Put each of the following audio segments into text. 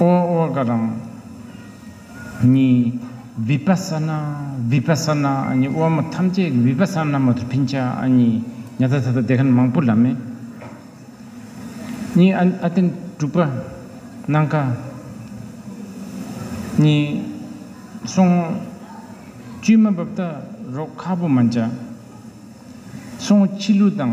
ཨོ་ཨོ་ཀ་དང། ནི། བི་པ་ས་ན་བི་པ་ས་ན་ནི་དབང་མོ་ཐམས་ཅད་ཀྱི་བི་པ་ས་ན་མ་དུ་ཕིན་ཆ་ནི་ཉ་ཐ་ཐ་ཐ་དེ་ཁན་མང་པོ་ལ་མེ། ནི་ཨ་ཨ་ཏན་དྲུག་པ། ནང་ཀ། ནི། སོང། བཅུད་མ་འབབ་ད་རོག་ཁ་པོ་མ་འཇ། སོང་ཕྱི་ལུ་དང།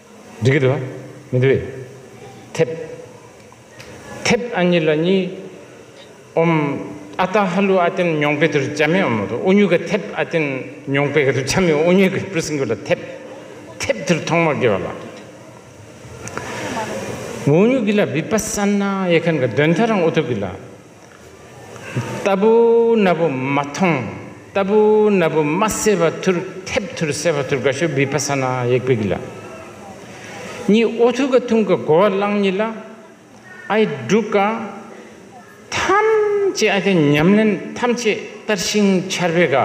འགྲིག་གི་འདུག་ཨ། མི་འདུག་ཨེ། ཐེབ། ཐེབ་ཨ་གཉིས་ལ་གཉིས། ཨོམ། ཨ་རྟ་ཧ་ལུ་ཨ་ཏན་མྱོང་པེ་དུར་བྱ་མེ་ཨོམ་དུ་ཨུ་ཉུག་གི་ཐེབ་ཨ་ཏན་མྱོང་པེ་གི་དུར་བྱ་མེ་ཨོ་ཉུག་གི་པུར་སིང་གུ་ལ་ཐེབ། ཐེབ་དུར་ཐོང་མོ་གི་བ་ལ། མོ་ཨུ་ཉུག་གི་ལ་བི་པ་སན་ན་ཡེ་ཁན་གི་དོན་ཐ་རང་ཨུ་ཐུག་གི་ལ། ལྟ་བུ་རྣ་བུ་མ་མཐོང་ལྟ་བུ་རྣ་བུ་མ་གསལ་བ་ཐུར་ཐེབས་ཐུར་གསལ་བ་ཐུར་ག་ཤོ་བི་པ་ས་ན་ཡེག་པི་གི་ལ་ཉི་ཨོ་ཐུ་ག་ཐུང་ག་གོ་བ་གླང་ཉི་ལ་ཨའི་འབྲུག་ག་ཐམས་ཅད་ཨ་ཏི་ཉམས་ལེན་ཐམས་ཅད་ལྟར་ཤིང་ཆར་བེ་ག་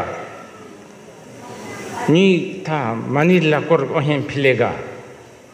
ཉི་ཐ་མ་ནི་ལ་ཀོར་ཨོ་ཧན་ཕི་ལེ་ག།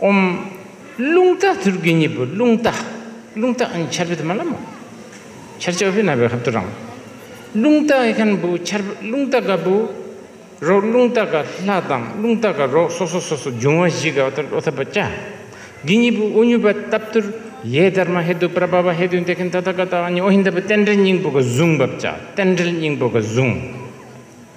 ཨོམ། རླུང་རྟ་དུར་དགུའི་གཉིས་པོ་རླུང་རྟ། རླུང་རྟ་ཨན་ཆར་བི་དྷི་མ་ལ་མོ། ཆར་ཆོ་བྷི་ན་བི་ཧབ་ཏུ་རང། རླུང་རྟ་ཨི་ཁན་བུ་ཆར་བི་རླུང་རྟ་ག་བུ། རོག་རླུང་རྟ་ག་ལྷ་དང་རླུང་རྟ་ག་རོག་སོ་སོ་སོ་སོ་འབྱུང་བ་བཞི་ག་ཏར་ཨོ་ཐ་པ་ཅཱ། དགི་གཉིས་པོ་ཨུ་ཉུ་བ་ཏབ་ཏུར་ཡེ་དར་མ་ཧེ་དུ་པྲ་བ་བ་ཧེ་དུ་འདེ་ཁན་ཏ་ཏ་ག་ཏ་ཨ་ཉི་ཨོ་ཧི་འད་བི་རྟེན་འབྲེལ་སྙིང་པོ་ག་བཟུང་བབ་ཅཱ་རྟེན་འབྲེལ་སྙིང་པོ་ག་བཟུང།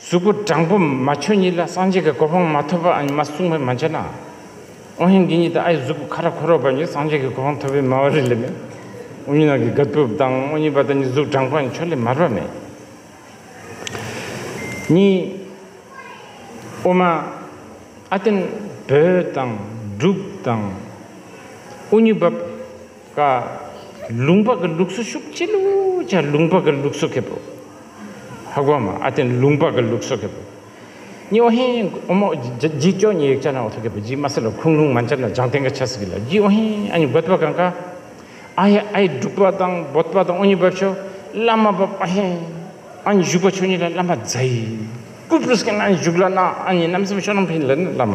གཟུགས་སྐུ་དྲང་པོ་མ་ཆོས་ཉིད་ལ་སངས་རྒྱས་ཀྱི་གོ་འཕང་མ་ཐོབ་པ་ཨ་ཉི་མ་གསུངས་པ་མ་འཆད་ན། ཨོ་ཧན་གྱི་ཉིད་དུ་ཨའི་གཟུགས་སྐུ་ཁ་ར་ཁོ་རོག་པ་ཉིད་སངས་རྒྱས་ཀྱི་གོ་འཕང་ཐོབ་པའི་སྨྲ་བ་རིགས་ལས་མེད། ཨོ་ཉི་ནང་གི་ག་ཏུབ་དང་ཨོ་ཉི་པ་དང་ཉིད་གཟུགས་དྲང་པོ་ཨའི་ཆོས་ལས་མར་བ་མེད། གཉིས། ཨོ་མ། ཨ་ཏན། བོད་དང། འབྲུག་དང། ཨོ་ཉི་བབ། ཀ། ལུང་པ་ཀི་ལུགས་སུ་ཤུག་ཅི་ལུ་ཅ་ལུང་པ་ཀི་ལུགས་སུ་ཁེ་པོ། ཧ་གོ་མ་ཨ་ཏན་ལུང་པ་ཀི་ལུགས་སུ་ཁེ་པོ། ཉི་འོ་ཧེན་ཨོ་མོ་ཇི་ཅོ་ཉི་ཡིག་ཅ་ན་འོ་ཐོ་ཁེ་པོ་ཇི་མ་སི་ལ་ཁུང་ལུང་མ་འཇ་ན་འཇང་ཏན་ཀ་ཆ་སི་ཀི་ལ་ཇི་འོ་ཧེན་ཨ་ཉི་གོད་པ་གང་ཀ། ཨ་ཧེ་ཨ་ཡི་འབྲུག་པ་དང་བོད་པ་དང་འོ་ཉི་བབ་ཆོ་བླ་མ་བབ་ཨ་ཧེན་ཨ་ཉི་བཞུགས་པ་ཆོ་ཉི་ལ་བླ་མ་བཛའ་ཡི་ཀུ་པུ་རུ་སི་ཀན་ཨ་ཉི་བཞུགས་ལ་ན་ཨ་ཉི་རྣམ་སེམས་ཤོ་ནམ་ཕིན་ལ་ནི་བླ་མ།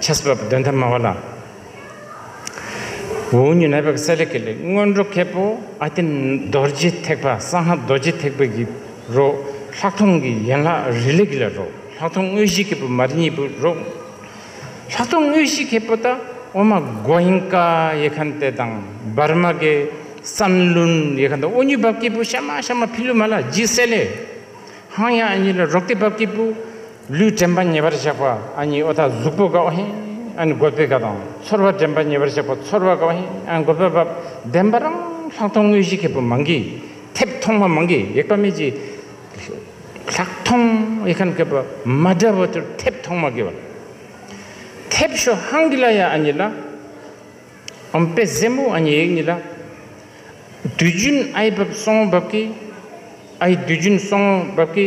ཆ་སྲིད་པ་བུ་དོན་དམ་མ་བ་ལ། འུ་གཉིས་ནད་པའི་གསལ་ལེ་ཀེ་ལེ་སྔོན་འགྲོ་མཁས་པོ་ཨ་ཏི་རྡོ་རྗེ་ཐེག་པ་སང་ཧ་རྡོ་རྗེ་ཐེག་པའི་གི་རོ་ལྷག་མཐོང་གི་ཡན་ལག་རི་ལེ་ཀེ་ལེ་རོ་ལྷག་མཐོང་དངོས་གཞི་མཁས་པོ་མ་རི་གཉིས་པོ་རོ་ལྷག་མཐོང་དངོས་གཞི་མཁས་པོ་ཏཱ་ཨོ་མ་གོ་ཡིན་ཀ་ཡེ་ཁན་ཏེ་དང་འབར་མ་གེ་སན་ལུན་ཡེ་ཁན་ཏེ་ཨོ་གཉིས་བབས་སྐྱེས་པོ་ཤ་མ་ཤ་མ་ཕི་ལུ་མ་ལ་རྗི་སེ་ལེ་ཧང་ཡ་ཨ་གཉིས་ལ་རོག་ཏེ་བབས་སྐྱེས་པོ། ལུས་དྲན་པ་ཉེ་བར་གཤེགས་པ་ཨ་ཉིའི་ཨོ་ཐ་གཟུགས་པོ་ག་ཧེ་ཨན་དགོད་པའི་ག་དང་ཚོར་བ་དྲན་པ་ཉེ་བར་གཤེགས་པ་ཚོར་བ་ག་ཧེ་ཨན་དགོད་པའི་བ་བདེན་པ་རང་ལྷག་མཐོང་དངོས་གཞི་མཁས་པོ་མང་གིས་ཐེབས་མཐོང་མ་མང་གིས་ཡེག་པ་མེད་ཀྱི། ལྷག་མཐོང་ཡེ་ཁན་མཁས་པོ་མ་འདྲ་བོ་ཚོར་ཐེབས་མཐོང་མ་གི་བ་ཐེབས་ཤོ་ཧང་གི་ལ་ཡ་ཨ་ཉི་ལ་ཨོམ་དཔེ་བཟེད་མོ་ཨ་ཉི་ཡེག་ཉི་ལ་དུས་རྒྱུན་ཨའི་བབས་སོང་བབས་གི་ཨའི་དུས་རྒྱུན་སོང་བབས་གི།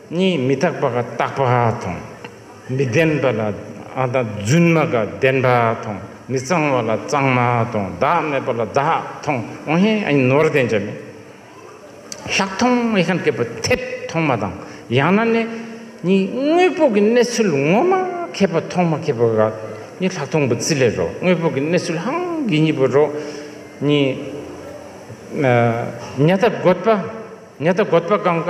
གཉིས་མི་རྟག་པ་ཀ་རྟག་པ་དང། མི་ལྡན་པ་ལ་དང་བརྫུན་མ་ཀ་བདེན་པ་དང། མི་གཙང་བ་ལ་གཙང་མ་དང་བདག་མེད་པ་ལ་བདག་དང་ཨོ་ཧེ་ཨིན་ནོར་ལྡན་ཅན་མེད། ལྷག་མཐོང་ཨེ་ཁན་ཀེ་པོ་ཐད་མཐོང་མ་དང་ཡང་ན་ནི་གཉིས་དངོས་པོ་ཀི་གནས་ཚུལ་ངོ་མ་ཁེ་པོ་མཐོང་མ་ཁེ་པོ་ཀ་གཉིས་ལྷག་མཐོང་པོ་ཙི་ལེ་རོ་དངོས་པོ་ཀི་གནས་ཚུལ་ཧང་གི་གཉིས་པོ་རོ་གཉིས། ཉ་ཐ་འགོད་པ་ཉ་ཐ་འགོད་པ་གང་ཀ།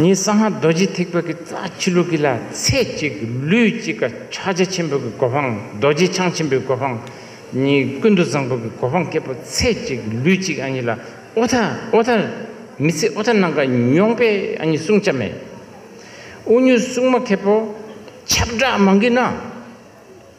ངས་གསང་སྔགས་རྡོ་རྗེ་ཐེག་པ་གི་རྩ་ཆུ་ལུགས་ཀྱི་ལ་ཚད་གཅིག་ལུས་གཅིག་གི་ཕྱག་རྒྱ་ཆེན་པོ་གི་གོ་འཕང་རྡོ་རྗེ་འཆང་ཆེན་པོའི་གོ་འཕང་གཉིས་ཀུན་ཏུ་བཟང་པོ་གི་གོ་འཕང་སྐྱེས་པོ་ཚད་གཅིག་ལུས་གཅིག་ཨ་ཉི་ལ་ཨོ་ཐ་ཨོ་ཐ་མི་ཚེ་ཨོ་ཐ་ནང་ཀ་མྱོང་པའི་ཨ་ཉི་བསྲུང་བྱ་མེད་ཨོ་ཉུལ་སྲུང་མ་མཁས་པོ་ཁྱབ་བསྒྲགས་མང་གི་ན།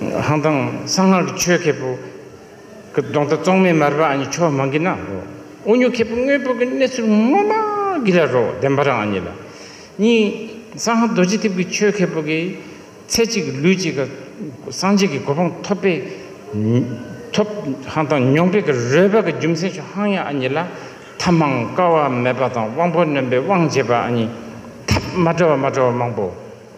ཧང་ཐང་གསང་སྔགས་ཀྱི་ཆོས་མཁས་པོ། ཀྱི་གདོང་རྟ་གཙང་མའི་མར་པ་ཨ་ཉི་ཕྱོགས་མང་གི་ན་རོ། དབུ་སྙུག་མཁས་པོ་དངོས་པོ་གི་གནས་ཚུལ་དངོས་མ་གི་ལ་རོ་བདེན་པ་རང་ཨ་ཉི་ལ། གཉིས། གསང་སྔགས་རྡོ་རྗེ་ཐེབས་ཀྱི་ཆོས་མཁས་པོ་གི། ཚེ་གཅིག་གི་ལུས་གཅིག་གི། སངས་རྒྱས་ཀྱི་གོ་འཕང་ཐོབ་པའི། ཐོབ། ཧང་ཐང་མྱོང་སྤེལ་གྱི་རོལ་པ་གི་རྒྱུ་མཚན་ཆོས་ཧང་ཡང་ཨ་ཉི་ལ། ཐབས་མང་དཀའ་བ་མེད་པ་དང་དབང་པོ་ནོན་པའི་དབང་བྱེད་པ་ཨ་ཉི། ཐབས་མ་བྲལ་བ་མ་བྲལ་བ་མང་པོ།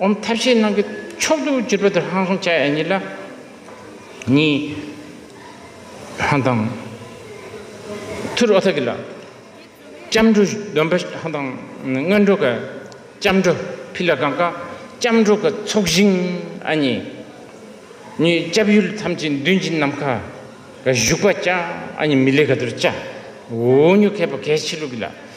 འོམ་ཐབས་ཤེས་ནང་གི་མཆོག་ཏུ་གྱུར་པ་དེར་ཧང་སོང་བྱ་ཡ་གཉིས་ལ་གཉིས། ཧང་དང། ཐུར་ཨོ་ཐ་ཀི་ལ། ལྕམ་འབྲུག་གདོན་པ་ཧང་དང། སྔོན་འགྲོ་ཀ། ལྕམ་འབྲུག་ཕི་ལ་གང་ཀ། ལྕམ་འབྲུག་གི་ཚོགས་ཞིང་ཨ་གཉིས། གཉིས་སྐྱབས་ཡུལ་ཐམས་ཅད་མདུན་གྱི་ནམ་མཁའ། ག་བཞུགས་པ་བཅའ་ཨ་གཉིས་མི་ལས་ག་དུར་བཅའ། འུ་གཉུག་མཁས་པ་གལ་ཆེ་ལུགས་ཀི་ལ།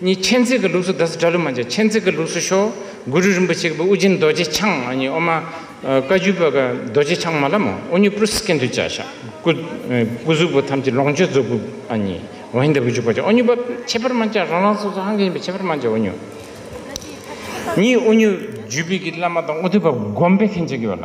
གཉིས་མཁྱེན་བརྩེ་གི་ལུགས་སུ་བཟླས་སུ་གྲལ་ལུགས་མ་བཅས་མཁྱེན་བརྩེ་གི་ལུགས་སུ་ཤོ་གུ་རུ་རིན་པོ་ཆེ་གི་པུསྟི་ཨུ་རྒྱན་རྡོ་རྗེ་འཆང་གཉིས་ཨོ་མ་བཀའ་བརྒྱུད་པ་གི་རྡོ་རྗེ་འཆང་མ་ལ་མོ་ཨོ་ཉུ་པུསྟི་ཀན་དུ་བཅའ་ཤ་གུ་སྐུ་གཟུགས་པོ་ཐམས་ཅད་ལོངས་སྤྱོད་རྫོགས་སྐུ་གཉིས་ཝཱ་ཧི་ནྡ་བུ་རྒྱུད་པ་ཅན་ཨོ་ཉུ་པ་ཁྱད་པར་མ་བཅའ་རང་རང་སོ་སོ་ཧང་གི་ཡིན་པའི་ཁྱད་པར་མ་བཅའ་ཨོ་ཉུ། གཉིས་ཨོ་ཉུ་རྒྱུད་པའི་བླ་མ་དང་དབུ་ཐོད་པ་བསྒོམ་པའི་མཁན་ཆེན་གྱི་བ་ལ།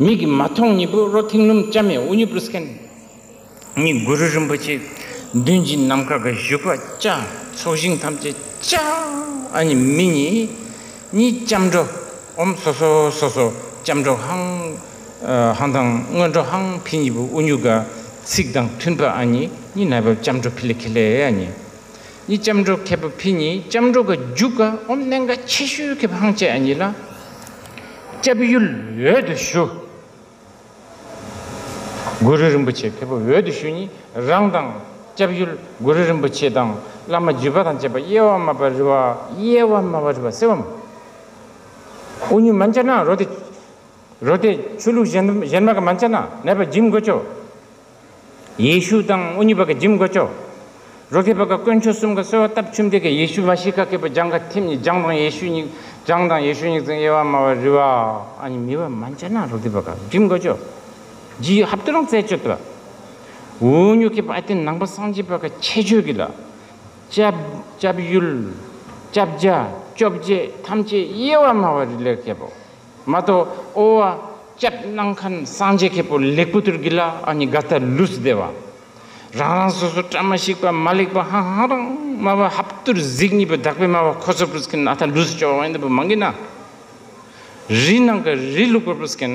མིག་གིས་མ་མཐོང་གཉིས་པོ་བློ་ཐིང་སྣུམ་ལྕགས་མེ་དབུ་ཉི་པུ་སྐན་གཉིས་གུ་རུ་རིན་པོ་ཆེ་མདུན་གྱི་ནམ་མཁའ་གི་བཞུགས་པ་ལྕགས་ཚོགས་ཞིང་ཐམས་ཅད་ལྕགས་ཨ་ནི་མི་གཉིས་གཉིས་ལྕམ་དྲོ་འོམ་སོ་སོ་སོ་སོ་ལྕམ་དྲོ་ཧང་ཧང་དང་སྔོན་འགྲོ་ཧང་ཕི་གཉིས་པོ་དབུ་སྙུག་ག་ཚིགས་དང་མཐུན་པ་ཨ་ནི་གཉིས་ནལ་བབས་ལྕམ་དྲོ་ཕི་ལེ་ཁི་ལེ་ཨ་ནི་གཉིས་སྐྱབས་འགྲོ་མཁས་པ་ཕི་གཉིས་སྐྱབས་འགྲོ་ག་རྒྱུ་ག་འོམ་གནན་ག་ཆེ་ཤོས་ཁེ་བྷང་བཅས་གཉིས་ལ་སྐྱབས་ཡུལ་འོད་དུ་ཞུ། གུ་རུ་རིན་པོ་ཆེ་ཁེ་བྷ་འོད་དུ་ཞུ་གཉིས་རང་དང་སྐྱབས་ཡུལ་གུ་རུ་རིན་པོ་ཆེ་དང་བླ་མ་བརྒྱུད་པ་དང་བཅས་པ་གཡེལ་བ་དམའ་བ་རི་བ་གཡེལ་བ་དམའ་བ་རི་བ་སེ་བ་མ་ཨུ་ཉུ་མ་འཇ་ན་རོ་དེ་རོ་དེ་ཆུ་ལུག་གཞན་མ་ག་མ་འཇ་ན་ནད་པ་འཇིམ་གོ་ཅོ། ཡེ་ཤུ་དང་ཨོ་ཉི་བ་ཀ་འཇིམ་ག་ཅོ། རོ་ཁེ་བ་ཀ་དཀོན་མཆོག་གསུམ་ག་གསོལ་བ་བཏབ་ཆུ་འདེ་ཀ་ཡེ་ཤུ་བ་ཤི་ཀ་ཀེ་པོ་ལྗང་ག་ཐིམ་ནི་ལྗང་དང་ཡེ་ཤུ་མྱིག་ལྗང་དང་ཡེ་ཤུ་མྱིག་ཙང་ཡེ་བ་མ་བ་རི་བ་ཨ་ཉི་མི་བ་མ་འཇ་ན་རོ་ཁེ་བ་ཀ་འཇིམ་ག་ཅོ། ཇི་ཡོ་ཧབ་ཏུ་རང་བཙལ་སྤྱོད་བ། ཨོ་ཉོ་ཁེ་བ་ཨ་ཏི་ནང་བ་སངས་རྒྱས་བ་ཀ་ཁྱད་ཆོས་ཀི་ལ། སྐྱབས་ཡུལ། སྐྱབས་རྒྱ། སྐྱོབ་བྱེད་ཐམས་ཅད་ཡེ་བ་མ་བ་རི་ལས་ཁེ་བོ། མ་གཏོགས་ཨོ་བ། སྐྱབས་གནང་མཁན་སངས་རྒྱས་མཁས་པོ་ལེགས་པོ་དུར་གྱི་ལ་ཨ་ནི་ག་ཐ་ལུས་སྡེ་བ། རང་རང་སོ་སོ་བཀྲ་མ་ཤིས་པ་མ་ལེགས་པ་ཧང་ཧང་རང་སྨྲ་བ་ཧབ་དུར་གཟིགས་གཉིས་པ་དག་པའི་སྨྲ་བ་ཁོ་ཚོར་པུས་མཁན་ཨ་ཐ་ལུས་སྐྱོ་བ་ཨེ་འདི་པོ་མང་གི་ན། རི་ནང་གི་རི་ལུག་པར་པུས་མཁན།